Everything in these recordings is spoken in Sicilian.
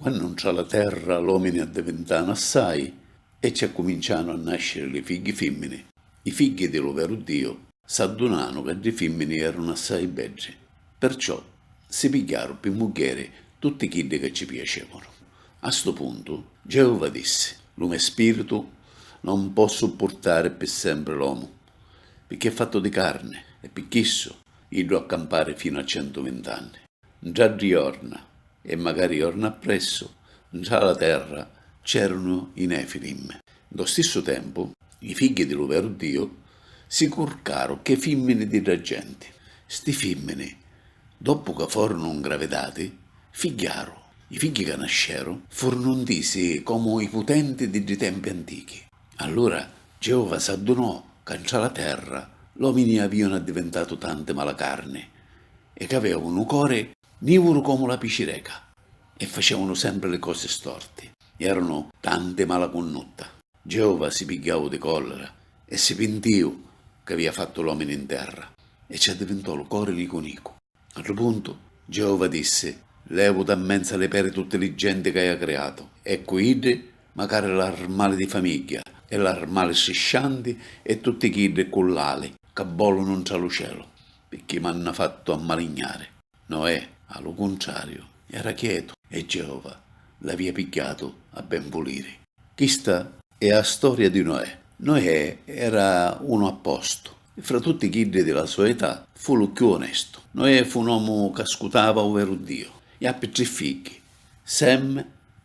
Quannu ntra la terra l'omini addivintanu assai e ci accumincianu a nasciri li figghi fimmini, i figghi di lu veru Diu s'addunanu ca ddi fimmini erunu assai beddi, perciò si pigghiaru pi muggheri tutti chiddi ca ci piacevanu. A stu puntu, Geova dissi, Lu me spiritu non pò suppurtari pi sempri l'omu, picchì è fattu di carni e pi chissu iddu ha campari finu a centu vint'anni. Ntra ddi jorna, e macari jorna appressu, ntra la terra c'erunu i Nefilim. Ntô stissu tempu, i figghi di lu veru Diu si curcaru chê fimmini di dda genti. Sti fimmini, doppu ca forunu ngravidati, figghiaru. I figghi ca nasceru furunu ntisi comu i putenti di ddi tempi antichi. Allura Geova s'addunò ca ntra la terra l'omini avìanu addivintatu tanti malacarni e c'avèvanu u cori nìvuru comu la picireca e facèvanu sempri li cosi storti, eranu tanti malacunnutta. Geova si pigghiau di còllira e si pintìu c'avìa fattu l'omini n terra e ci addivintò lu cori nicu nicu. A ddu puntu, Geova dissi, Levu dâ menza li peri tutti li genti c'haju criatu, e cu iddi, macari l'armali di famigghia, e l'armali striscianti, e tutti chiddi cu l'ali ca vòlunu ntra lu celu, picchì m'hannu fattu ammalignari. Noè, a lu cuntrariu, era chietu, e Geova l'avìa pigghiatu a ben vuliri. Chista E' a storia di Noè. Noè era unu appostu. Fra tutti chiddi di la so età fu lu cchiù onestu. Noè fu un omu c'ascutava u veru Diu. I appi tri figghi, Sem,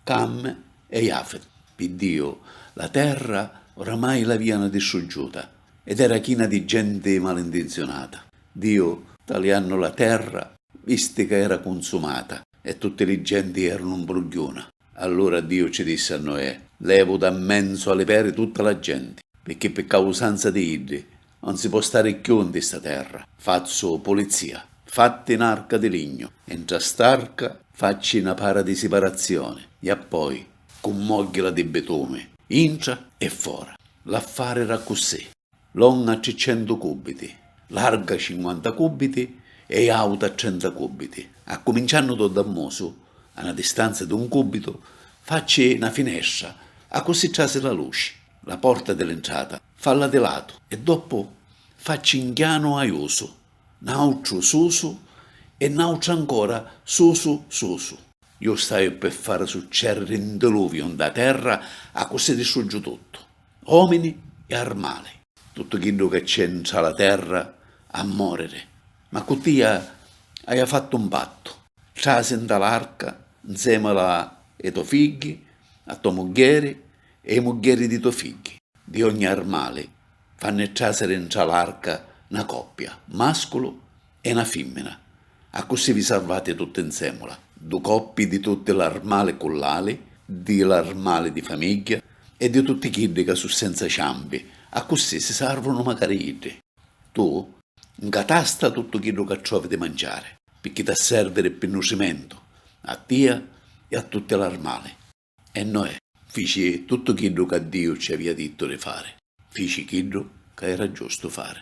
Cam e Jafet. Pi Diu la terra oramai l'avianu distruggiuta ed era china di genti malintinzionata. Diu, taliannu la terra, visti ca era cunsumata e tutti li genti eranu 'mbrugghiuna. Allura Diu ci dissi a Noè, Levu da 'nmenzu a li peri tutta la genti, picchì pi causanza di iddi 'un si po' stari cchiù nti sta terra. Fazzu pulizia. Fatti 'n arca di lignu, e ntra st'arca facci 'na para di siparazioni, e appoi cummogghila di bitumi, intra e fora. L'affari era accussì. Longa triccentu cùbbiti, larga cinquanta cùbbiti e àuta trenta cùbbiti. Accuminciannu dô dammusu, a na distanza d'un cùbbitu, facci na finestra, accussì trasi la luci. La porta di l'intrata, falla di latu e doppu facci 'nchianu aiusu, n'àutru susu e n'àutru ancora susu susu. Ju staiu pi fari succèrriri 'n diluviu 'ntâ terra, accussì distruggiu tuttu. omini e armali. Tuttu chiddu ca c'è ntra la terra ha moriri, ma cu tia haia fattu un pattu, trasi nta l'arca nzemula e to figghi, a to muggheri e i muggheri di to figghi, di ogni armali fanni trasiri ntra l'arca na coppia, masculu E na fimmina. Accussì vi sarvati tutti nsemula du coppi di tutti l'armali cullali, di l'armali di famigghia e di tutti chiddi ca su senza ciampi, accussì si sarvunu macari iddi. Tu, nca tasta tuttu chiddu ca trovi di manciari, picchì t'ha serviri pi nutrimentu a tia e a tutti l'armali. E Noè fici tuttu chiddu ca Diu ci avia dittu di fari, fici chiddu ca era giustu fari.